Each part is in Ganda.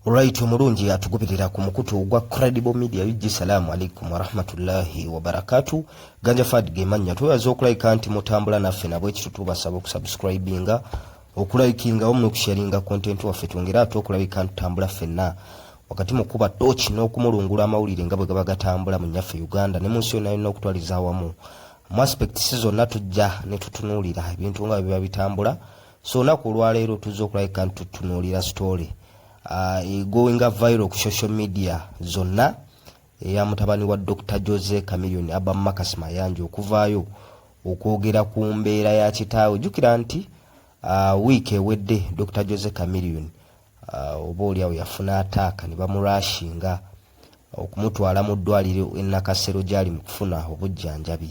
Olwayiti omulungi atugubirira ku mukutu ogwa Credible Media UG. Salaamu alaikum warahmatullahi wabarakatu. Ganja Fad ge mannya twebaza okulayika nti mutambula naffe nabwekityo tubasaba okusubscribinga okulayikinga wamu n'okusharinga kontenti waffe twongere ate okulabika nti tutambula ffenna wakati mu kuba tooki n'okumulungula amawulire nga bwe gaba gatambula mu nnyaffe Uganda ne mu nsi yonna yonna okutwaliza awamu. Mu aspects zonna tujja ne tutunuulira ebintu nga bwe biba bitambula so olunaku olwaleero tuzza okulabika nti tutunuulira story uh, egoinga viral ku social media zonna eya mutabani wa dr jose camilion aba makas mayanja okuvaayo okwogera ku mbeera ya kitaawe jjukira nti uh, wiiki ewedde dr jose camilion uh, oba oliawo yafuna ataaka ne bamurashinga okumutwala mu ddwaliro enakasero gyali mu kufuna obujjanjabi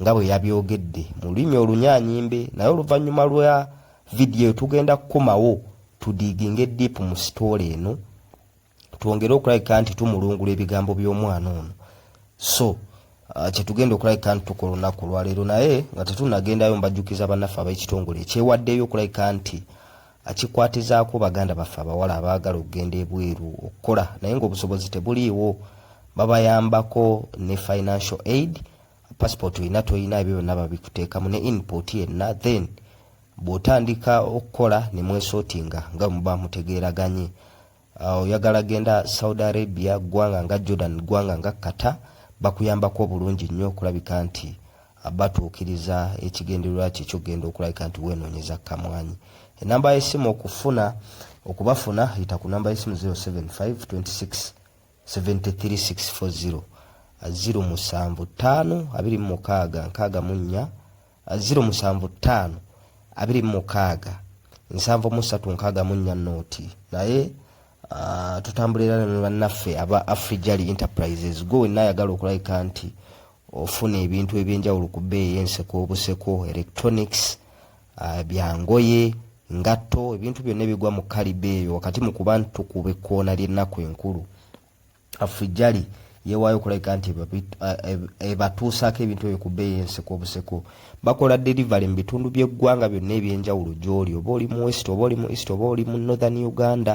nga bwe yabyogedde mu lulimi olunyanyimbe naye oluvannyuma lwa vidiyo tugenda kukomawo tudiiginge diipu mu sitoola eno twongere okulabika nti tumulungula ebigambo by'omwana ono so uh, kyetugenda okulabika nti tukola olunaku olwaleero naye nga tetunagendayo mbajjukiza bannaffe ab'ekitongole ekyewaddeyo okulabika nti akikwatizaako baganda baffe abawala abaagala okugenda ebweru okukola naye ng'obusobozi tebuliiwo babayambako ne financial aid passport olina tolina ebyo byonna babikuteekamu ne input yenna then bw'otandika okukola ne mwesotinga nga muba mutegeeraganye uh, oyagala genda saudi arabia ggwanga nga jordan ggwanga nga kata bakuyambako obulungi nnyo okulabika nti uh, batuukiriza ekigendererwa kye kyokugenda okulabika nti weenoonyeza kamwanyi enamba y'essimu okufuna okubafuna yita ku namba y'essimu 075 26 73640 ziro musanvu ttaano abiri mu mukaaga nkaaga mu nnya ziro musanvu ttaano abiri mu mukaaga nsanvu mu ssatu nkaaga mu nnya nooti naye ah, tutambulira ne bannaffe aba afrijali enterprises gwe wenna ayagala okulabika nti ofuna ebintu ebyenjawulo ku bbeeyi enseko obuseko electronics uh, bya ngoye ngatto ebintu byonna ebigwa mu kaliba eyo wakati mu kuba nti tukuba ekkoona ly'ennaku enkulu afujali yewaayo okulabika nti ebatuusaako ebintu ebyo ku bbeeyi enseko obuseko bakola delivery mu bitundu by'eggwanga byonna eby'enjawulo gy'oli oba oli mu west oba oli mu east oba oli mu northern uganda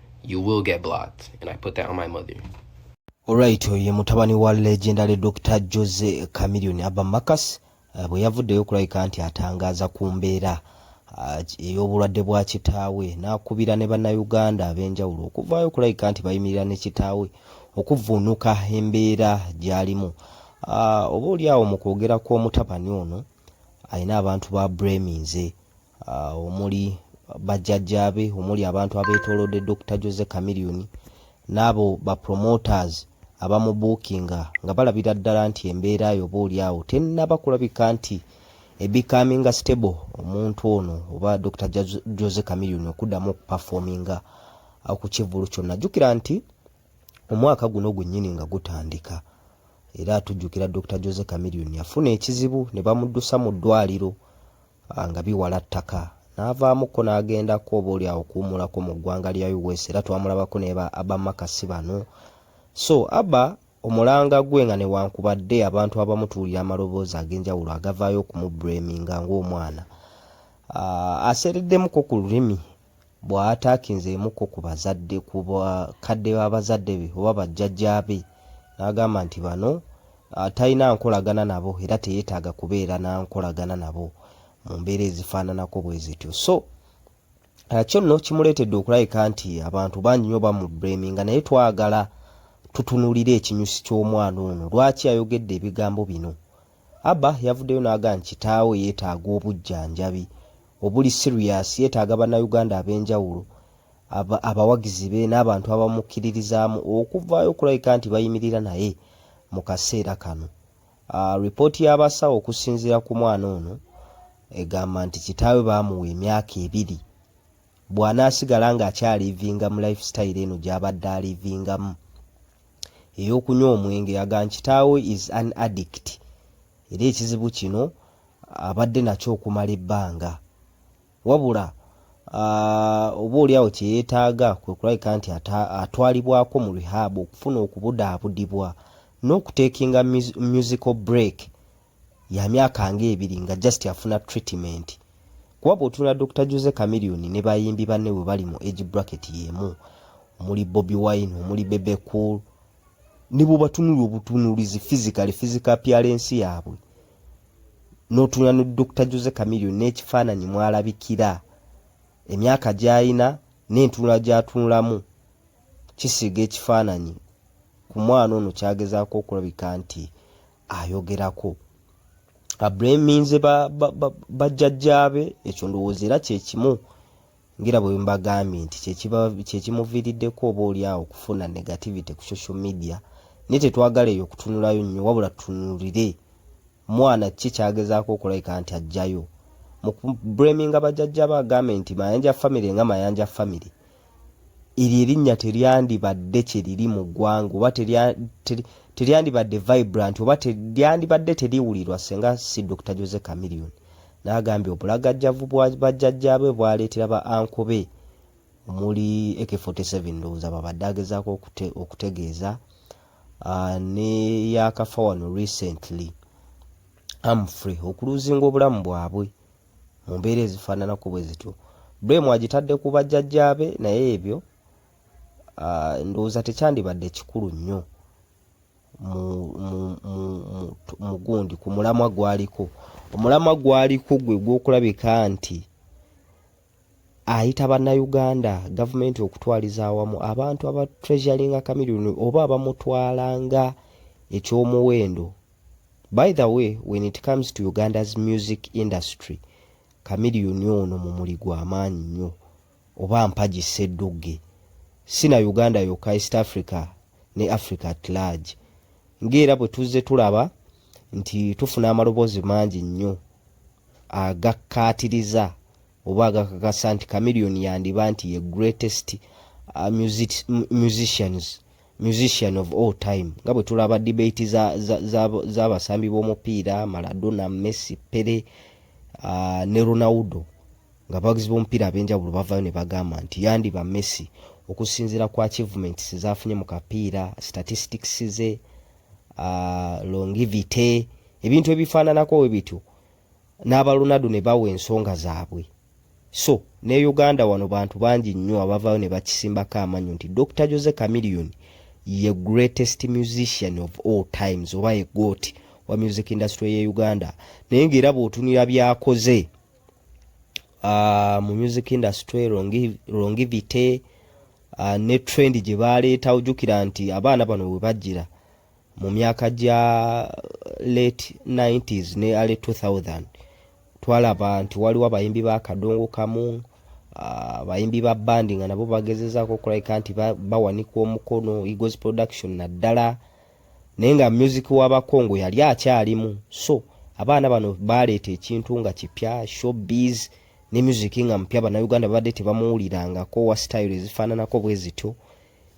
you will get blocked and i put that on my mother olwait oyo ye mutabani wa legendary dr jose camilion abamakas eh, bwe yavuddeyo okulabika nti atangaaza ku mbeera eh, ey'obulwadde bwa kitaawe n'akubira ne bannayuganda ab'enjawulo okuvaayo okulabika nti bayimirira ne kitaawe okuvvuunuka embeera gy'alimu ah, oba oli awo mu kwogera kw'omutabani ono alina abantu ba breminze omuli bajjajjaabe omuli abantu abeetoolodde Dokita Jose Chameleone n'abo ba promoters abamubuukinga nga balabira ddala nti embeera yo oba oli awo tennaba kulabika nti ebikaminga stable omuntu ono oba Dokita Jose Chameleone okuddamu okupafominga ku kivvulu kyonna jjukira nti omwaka guno gwennyini nga gutandika era tujjukira Dokita Jose Chameleone yafuna ekizibu ne bamuddusa mu ddwaliro nga biwala ttaka n'avaamukko n'agendako oboolyawo okuwummulako mu ggwanga lya US era twamulabako ne ba Abba Maka si bano so Abba omulanga gwe nga newankubadde abantu abamu tuwulira amaloboozi ag'enjawulo agavaayo okumubreminga ng'omwana aseereddemuko ku lulimi bw'ataakinze emu ko ku bazadde ku bakadde ba bazadde be oba bajjajjaabe n'agamba nti bano talina nkolagana nabo era teyeetaaga kubeera na nkolagana nabo mu mbeera ezifaananako bwe zityo so kyo nno kimuleetedde okulabika nti abantu bangi nnyo bamubreminga naye twagala tutunulire ekinyusi ky'omwana ono lwaki ayogedde ebigambo bino Abba yavuddeyo n'agamba nti kitaawe yeetaaga obujjanjabi obuli siriyasi, yeetaaga Bannayuganda ab'enjawulo, abawagizi be n'abantu abamukkiririzaamu okuvaayo okulabika nti bayimirira naye mu kaseera kano. Lipooti y'abasawo okusinziira ku mwana ono egamba nti kitaawe baamuwa emyaka ebiri Bw'anaasigala ng'akyaliivinga mu life style eno gy'abadde aliivingamu ey'okunywa omwenge, agamba nti kitaawe is an addict era ekizibu kino abadde nakyo okumala ebbanga wabula oboolyawo kye yeetaaga kwe kulabika nti atwalibwako mu rehab okufuna okubudaabudibwa n'okuteekinga musical break ya myaka nga ebiri nga just afuna treatment kuba bw'otunula Dr Jose Chameleone ne bayimbi banne bwe bali mu age bracket y'emu omuli Bobi Wine omuli Bebe Cool ne bw'obatunula obutunulizi physically physical appearance yaabwe n'otunula ne Dr Jose Chameleone n'ekifaananyi mw'alabikira emyaka gy'alina n'entunula gy'atunulamu kisiiga ekifaananyi ku mwana ono kyagezaako okulabika nti ayogerako abreminze bajjajjaabe ekyo ndowooza era kyekimu ngera bwe mbagambye nti kyekimuviiriddeko oba oliawo okufuna negativity ku social media naye tetwagala eyo okutunulayo nnyo wabula tunulire mwana ki kyagezaako okulabika nti ajjayo mu breminga bajjajjaabe agambe nti mayanja famiry nga mayanja famiry eryo erinnya teryandibadde kye liri mu ggwanga oba teryandibadde vibrant oba teryandibadde teriwulirwa senga si dr jose camilion n'agambye obulagajjavu bwa bajjajjaabe bwaleetera ba anko be omuli ak47 ndowooza babadde agezaako okutegeeza ah, neyakafa wano recently amfrey okuluuzinga obulamu bwabwe mu mbeera ezifaananako bwe zityo. Blame agitadde ku bajjajjaabe naye ebyo ah, ndowooza tekyandibadde kikulu nnyo mu gundi ku mulamwa gwaliko. Omulamwa gwaliko gwe gw'okulabika nti ayita bannayuganda gavumenti okutwaliza awamu abantu aba treasuringa kamiliyoni oba abamutwala nga eky'omuwendo By the way when it comes to Uganda's music industry Chameleon ono mumuli gwa maanyi nnyo oba mpagi sseddugge. Si na Uganda yokka East Africa ne Africa at large. Ng'era bwe tuzze tulaba nti tufuna amaloboozi mangi nnyo agakkaatiriza oba agakakasa nti Chameleon yandiba nti ye greatest uh, music, musicians musician of all time nga bwe tulaba debate z'abasambi b'omupiira maradona messi pere uh, ne ronaldo nga abawagizi b'omupiira ab'enjawulo bavayo ne bagamba nti yandiba messi okusinziira ku achievements zaafunye mu kapiira statistics ze uh, longivity ebintu ebifaananako we bityo n'abalunadu ne bawa ensonga zaabwe so ne Uganda wano bantu bangi nnyo abavaayo ne bakisimbako amannyo nti Dokita Jose Chameleone ye greatest musician of all times oba ye goat wa music industry ye Uganda naye ng'era bw'otunira byakoze uh, mu music industry longivity uh, ne trend gye baaleeta ojjukira nti abaana bano we bajjira mu myaka gya late 90s ne early 2000 twalaba nti waliwo abayimbi ba kadongo kamu abayimbi ba bandi nga nabo bagezezaako okulabika nti bawanika omukono egos production naddala naye nga music wabakongo yali akyalimu so abaana bano baleeta ekintu nga kipya showbiz ne music nga mupya banauganda babadde tebamuwulirangako wa style ezifaananako bwe zityo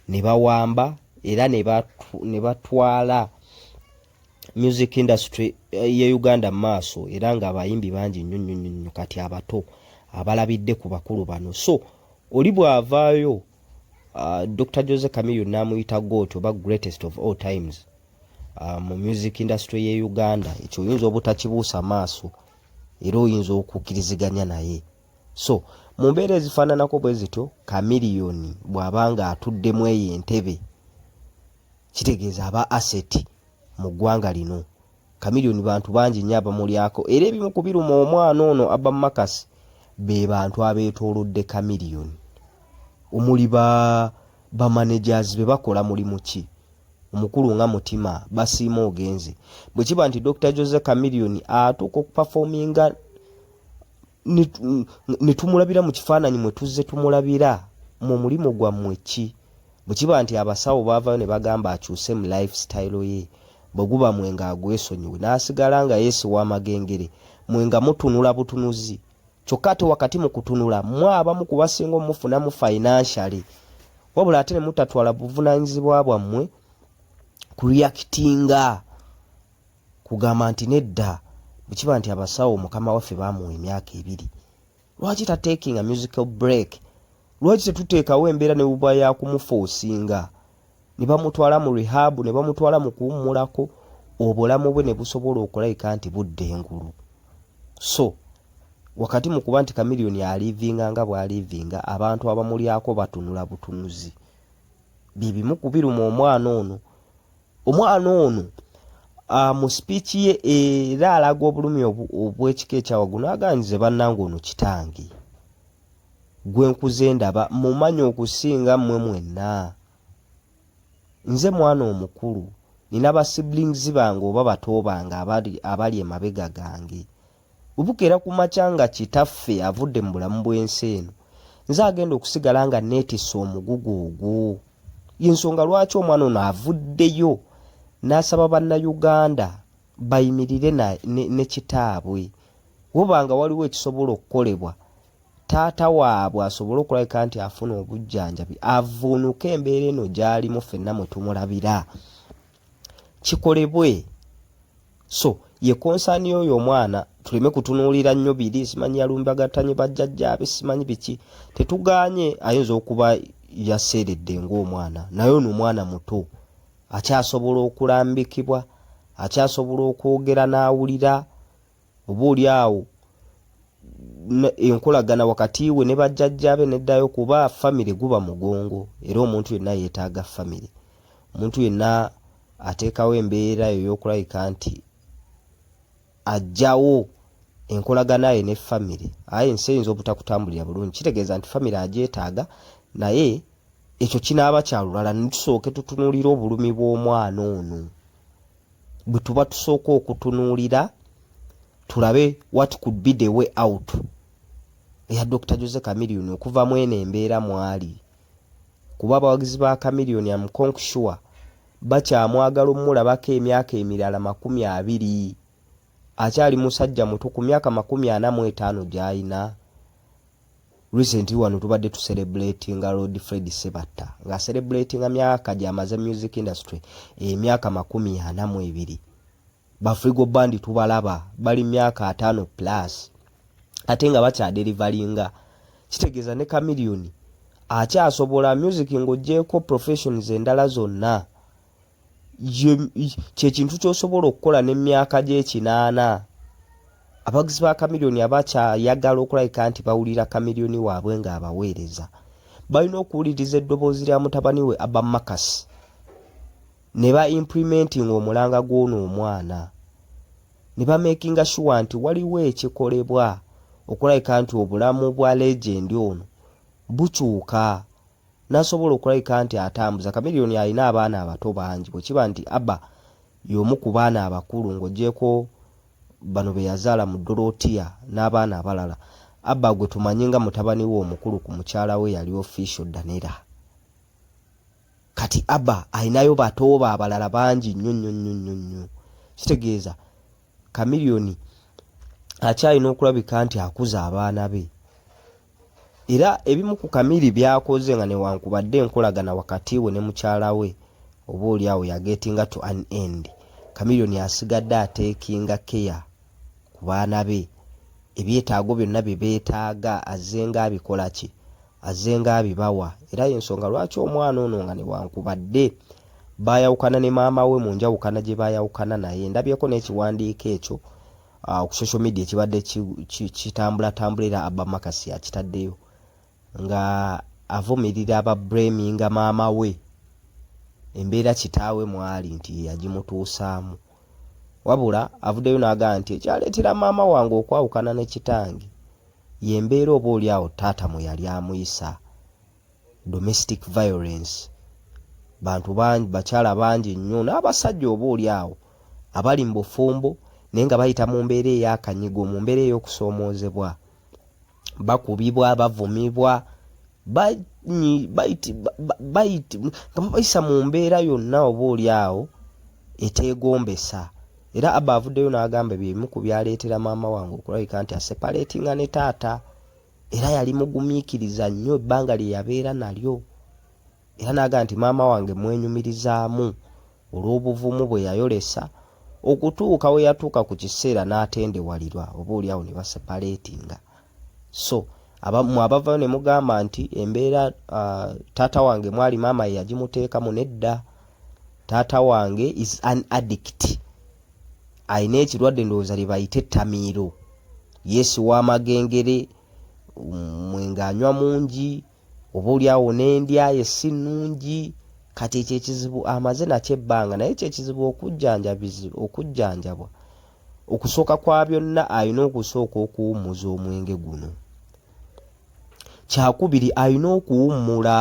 ne bawamba era ne batwala music industry eh, ye Uganda maaso era nga abayimbi bangi nnyo nnyo nnyo kati abato abalabidde ku bakulu bano so oli bw'avaayo uh, Dr. Jose Camillo n'amuyita goot oba greatest of all times uh, mu music industry ye Uganda ekyo oyinza obutakibuusa maaso era oyinza okukkiriziganya naye so mu mbeera ezifaananako bwe zityo kamiliyoni bw'aba ng'atuddemu eyo entebe kitegeeza aba aseti mu ggwanga lino kamiliyoni bantu bangi nnyo abamulyako era ebimu ku biruma omwana ono aba makasi be bantu abeetoolodde kamiliyoni omuli ba bamanagers be bakola mulimu ki omukulu nga mutima basiima ogenze bwe kiba nti dr jose kamiliyoni atuuka okupafominga ne tumulabira mu kifaananyi mwe tuzze tumulabira mu mulimu gwammwe ki bwe kiba nti abasawo baavayo ne bagamba akyuse mu lifestyle ye bwe guba mwe nga agwesonyiwe n'asigala nga yeesiwa amagengere mwe nga mutunula butunuzi kyokka ate wakati mu kutunula mwe abamu ku basinga omufunamu financially wabula ate ne mutatwala buvunaanyizibwa bwammwe ku reactinga Kugamba nti nedda bwekiba nti abasawo mukama waffe bamuwa emyaka ebiri lwaki ta taking a musical break lwaki tetuteekawo embeera nebuba yakumufoosinga nebamutwala mu rehab nebamutwala mu kuwummulako obulamu bwe nebusobola okulayika nti budda engulu so wakati mu kuba nti kamiliyoni aliivinga nga bwaliivinga abantu abamulyako batunula butunuzi byebimu kubiruma omwana ono omwana ono ah, mu sipiiki ye era alaga obulumi obw'ekika ekyawaggulu n'aganyize bannange ono kitange gwe nkuze ndaba mumanyi okusinga mmwe mwenna nze mwana omukulu nina ba siblings bange oba bato bange abali emabega gange Bwe bukeera ku makya nga kitaffe avudde mu bulamu bw'ensi eno, nze agenda okusigala nga neetisse omugugu ogwo. Y'ensonga lwaki omwana ono avuddeyo n'asaba Bannayuganda bayimirire ne kitaabwe. Woba nga waliwo ekisobola okukolebwa taata waabwe asobole okulabika nti afuna obujjanjabi avvuunuke embeera eno gy'alimu ffenna mwe tumulabira. kikolebwe so ye concern yoyo omwana tuleme kutunuulira nnyo biri simanyi yalumbagattanye bajjajjaabe simanyi biki tetuganye ayinza okuba yaseeredde ng'omwana naye ono omwana muto akyasobola okulambikibwa akyasobola okwogera n'awulira oba oli awo enkolagana wakati we ne bajjajjaabe neddayo kuba famire guba mugongo era omuntu yenna yeetaaga famire. Omuntu yenna ateekawo embeera eyo ey'okulabika nti aggyawo enkolagana ye ne famire aye ensi eyinza obutakutambulira bulungi kitegeeza nti famire agyetaaga naye ekyo kinaaba kya lulala ne tusooke tutunuulira obulumi bw'omwana ono. bwe tuba tusooka okutunuulira tulabe what could be the way out eya dr jose camilion okuva mu eno embeera mwali kuba abawagizi ba camilion amukonksure bakyamwagala omulabako emyaka emirala makumi abiri akyali musajja muto ku myaka makumi ana mu etaano gy'alina Recently wano tubadde tu celebratinga Lord Fred Sebatta nga celebratinga myaka gyamaze music industry emyaka eh, makumi ana mu ebiri Bafrigo Band tubalaba bali myaka ataano plus ate nga bakyaderivalinga kitegeeza ne Chameleone akyasobola music ng'oggyeeko professions endala zonna kyekintu kyosobola okukola nemyaka gyekinaana abaguzi ba kamiliyoni abakyayagala okulabika nti bawulira kamiliyoni waabwe nga abaweereza balina okuwuliriza eddoboozi lya mutabani we aba makas ne ba implimenting omulanga gw'ono omwana ne bamakinga shuwa nti waliwo ekikolebwa okulabika nti obulamu bwa legendi ono bukyuka n'asobola okulabika nti atambuza. Chameleone alina abaana abato bangi bwe kiba nti Abba y'omu ku baana abakulu ng'oggyeeko bano be yazaala mu Dorotia n'abaana abalala, Abba gwe tumanyi nga mutabani we omukulu ku mukyala we yali Official Danella. Kati Abba alinayo bato be abalala bangi nnyo nnyo nnyo nnyo nnyo. Kitegeeza Chameleone akyalina okulabika nti akuza abaana be. Era ebimu ku Kamiri by'akoze nga newankubadde enkolagana wakati we ne mukyala we oboolyawo yagetinga to an end, Chameleone asigadde ateekinga keya ku baana be, ebyetaago byonna bye beetaaga azzenga abikola ki? Azzenga abibawa era y'ensonga lwaki omwana ono nga newankubadde baayawukana ne maama we mu njawukana gye baayawukana naye, ndabyeko n'ekiwandiiko ekyo, uh, ku social media kibadde kitambulatambula era abba makasi akitaddeyo nga avumirira aba breminga maama we embeera kitaawe mwali nti yagimutuusaamu wabula avuddeyo n'agamba nti ekyaleetera maama wange okwawukana ne kitange yembeera oba oli awo taata mwe yali amuyisa domestic violence bantu bangi bakyala bangi nnyo n'abasajja oba oli awo abali mu bufumbo naye nga bayita mu mbeera ey'akanyigo mu mbeera ey'okusoomoozebwa bakubibwa bavumibwa nga babayisa mu mbeera yonna oba oli awo eteegombesa era abba avuddeyo n'agamba byebimu ku byaleetera maama wange okulabika nti asepaleetinga ne taata era yali mugumiikiriza nnyo ebbanga lye yabeera nalyo era n'aga nti maama wange mwenyumirizaamu olw'obuvumu bwe yayolesa okutuuka we yatuuka ku kiseera n'atendewalirwa oba olyawo ne basepareetinga so abamu abavayo ne mugamba nti embeera uh, taata wange mwali maama ye yagimuteekamu nedda taata wange is an addict alina ekirwadde ndowooza lye bayita ettamiiro yeesiwa amagengere mwenga anywa mungi oba oli awo n'endya ye si nnungi kati ekyo ekizibu amaze nakyo ebbanga naye ekyo ekizibu okujjanjabwa okusooka kwa byonna alina okusooka okuwummuza omwenge guno kyakubiri alina okuwummula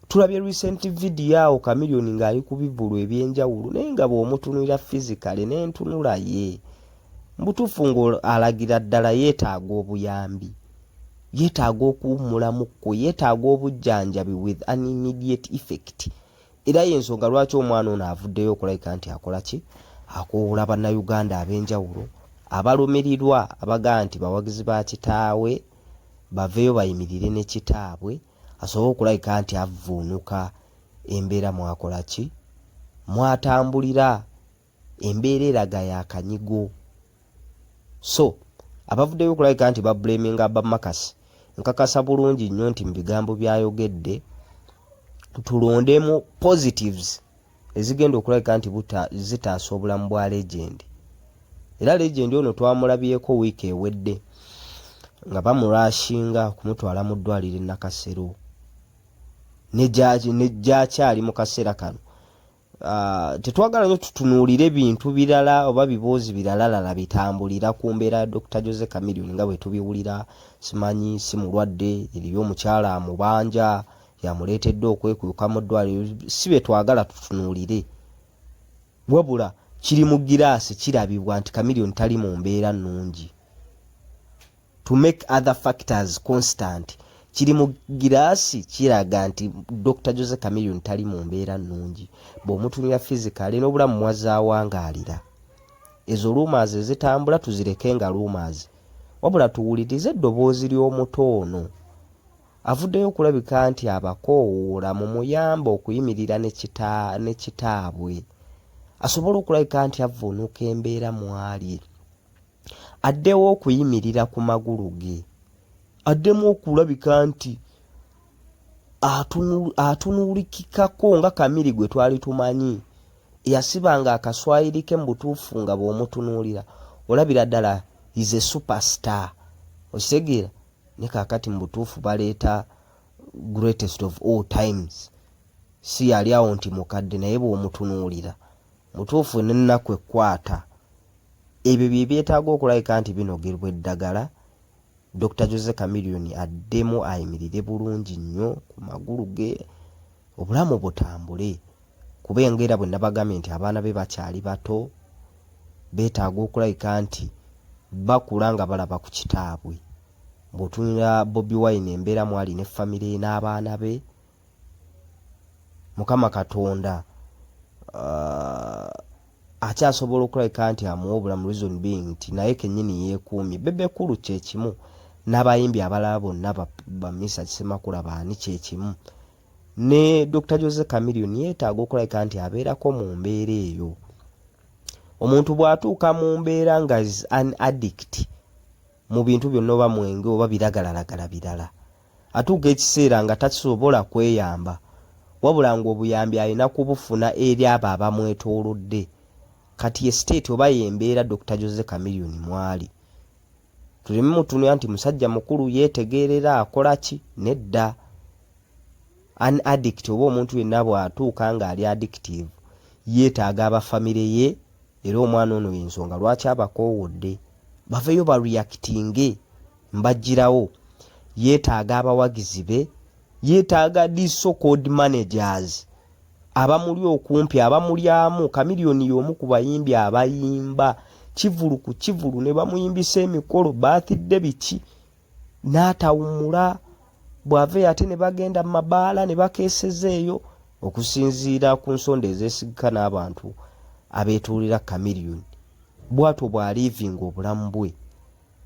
tulabye recent video awo chameleon ng'ali ku bivulu ebyenjawulo naye nga bw'omutunulira physically n'entunula ye mbutuufu ng'alagira ddala yeetaaga obuyambi yeetaaga okuwummulamuko yeetaaga obujjanjabi with an immediate effect era y'ensonga lwaki omwana ono avuddeyo okulabika nti akola ki akoowola bannayuganda ab'enjawulo abalumirirwa abagaa nti bawagizi ba kitaawe baveeyo bayimirire ne kitaabwe asobole okulabika nti avvuunuka embeera mwakola ki mwatambulira embeera eraga yakanyigo so abavuddeyo okulabika nti babulaminga abamakasi nkakasa bulungi nnyo nti mu bigambo byayogedde tulondemu positives ezigenda okulabika nti buta zitaasa obulamu bwa legendi era legendi ono twamulabyeko wiiki ewedde nga bamurashinga okumutwala mu ddwaliro enakasero negyakyali mu kaseera kano ah, tetwagala nyo tutunuulire bintu birala oba biboozi biralalala bitambulira ku mbeera ya dr jose camilion nga bwetubiwulira simanyi si mulwadde eriyo omukyala amubanja yamuleetedde okwekuuka mu ddwaliro si bye twagala tutunuulire wabula kiri mu giraasi kirabibwa nti kamiliyoni tali mu mbeera nnungi to make other factors constant kiri mu giraasi kiraga nti dr jose camilion tali mu mbeera nnungi bw'omutunira fizikale n'obulamu mwazaawangaalira ezo luumaazi ezitambula tuzireke nga luumaazi wabula tuwulirize eddoboozi ly'omuto ono Avuddeyo okulabika nti abakoowoola mumuyambe okuyimirira ne kitaabwe asobole okulabika nti avvuunuka embeera mw'ali addewo okuyimirira ku magulu ge addemu okulabika nti atunuulikikako nga kamiri gwe twali tumanyi eyasibanga akaswayiri ke mu butuufu nga bw'omutunuulira olabira ddala is a superstar okitegeera ne kakati mu butuufu baleeta greatest of all times si yali awo nti mukadde naye bw'omutunuulira mutuufu n'ennaku ekkwata ebyo bye byetaaga okulabika nti binogerwa eddagala dr jose camilion addemu ayimirire bulungi nnyo ku magulu ge obulamu butambule kuba enga era bwe nabagambye nti abaana be bakyali bato beetaaga okulabika nti bakula nga balaba ku kitaabwe bw'otunira bobi wine embeera mwali ne famire n'abaana be mukama katonda uh, akyasobola okulabika nti amuwa obulamu reason being nti naye kenyini yeekuumye bebekulu kyekimu n'abayimbi abalala bonna bamisa kisemakula baani kyekimu ne dr jose camilion yeetaaga okulabika nti abeerako mu mbeera eyo omuntu bw'atuuka mu mbeera nga is an addict mu bintu byonna oba mwenge oba biragalalagala birala atuuka ekiseera nga tasobola kweyamba wabula ng'obuyambi alina kubufuna eri abo abamwetoolodde kati ye state oba yembeera dr jose camilion mwali tuleme mutunuya nti musajja mukulu yeetegeerera akola ki nedda an addict oba omuntu yenna bw'atuuka ng'ali addictive yeetaaga aba famire ye era omwana ono y'ensonga lwaki abakoowodde baveeyo bareactinge mbajjirawo yeetaaga abawagizi be yetaaga di so called managers abamuli okumpi abamulyamu kamiliyoni y'omu ku bayimbi abayimba kivulu ku kivulu ne bamuyimbisa emikolo baathidde biki n'atawumula bw'aveyo ate ne bagenda mu mabaala ne bakeeseza eyo okusinziira ku nsonda ezeesigika n'abantu abeetuulira kamiliyoni bwatwo bw'aliivinga obulamu bwe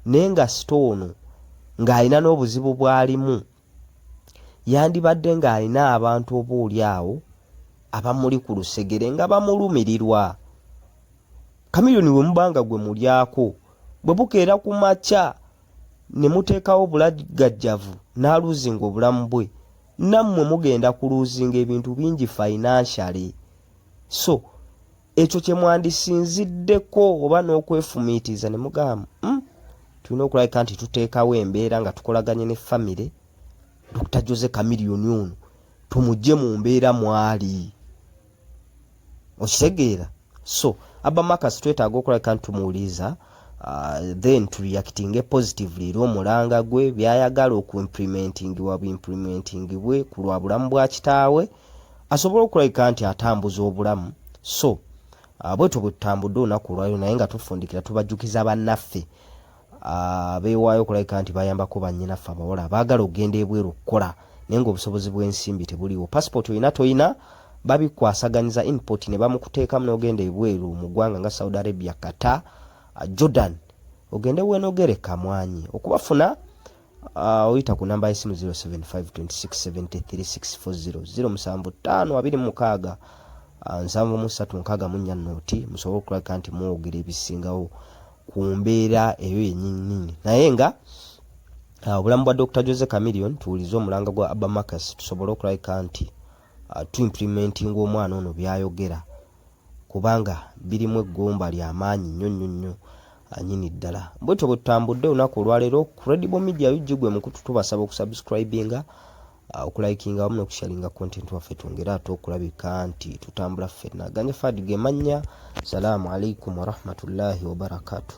naye nga sita ono ng'alina n'obuzibu bw'alimu Yandibadde ng'alina abantu oboolyawo abamuli ku lusegere nga bamulumirirwa. Chameleone bwe muba nga gwe mulyako, bwe bukeera ku makya ne muteekawo bulagajjavu n'aluuzinga obulamu bwe, nammwe mugenda kuluuzinga ebintu bingi financially. So. ekyo kye mwandisinziddeko oba n'okwefumiitiriza ne mugamba hmm, tulina okulabika nti tuteekawo embeera nga tukolaganye ne famire dr jose kamiliyoni ono tumugye mu mbeera mwali okitegeera so abamakas twetaaga okulabika nti tumuwuliriza uh, then tureactinge positively era omulanga gwe byayagala okuimplementingi wa buimplementingi bwe ku lwa bulamu bwa kitaawe asobole okulabika nti atambuza obulamu so ah, bwetyo bwe tutambudde olunaku olwaliro naye nga tufundikira tubajjukiza bannaffe ah, beewaayo okulabika nti bayambako bannyinaffe abawala abaagala okugenda ebweru okukola naye ngaobusobozi bw'ensimbi tebuliwo pasipooti olina tolina babikwasaganyiza inpot ne bamukuteekamu n'ogenda ebweru mu ggwanga nga saudi arabia kata ah, jordan ogende wenogereka mwanyi okubafuna Uh, oyita ku namba y'essimu 0752673640 musanvu ttaano abiri mukaaga ah, nsanvu mu ssatu nkaaga mu nnya nooti musobole okulaga nti mwogera ebisingawo ku mbeera eyo yenyinyini naye nga ah, obulamu bwa dr jose camilion tuwulize omulanga gwa abamacas tusobole okulabika nti uh, tuimplimentinga omwana ono byayogera kubanga birimu eggumba lya maanyi nnyo nnyo nnyo anyini ddala bwetyo bwe tutambudde olunaku olwaleero credible media ug gwe mukutu tubasaba okusubscribinga uh, okulayikinga wamu nokusharinga content waffe twongere ate okulabika nti tutambula ffenna ganye fad gemannya salaamu alaikum warahmatullahi wabarakatuh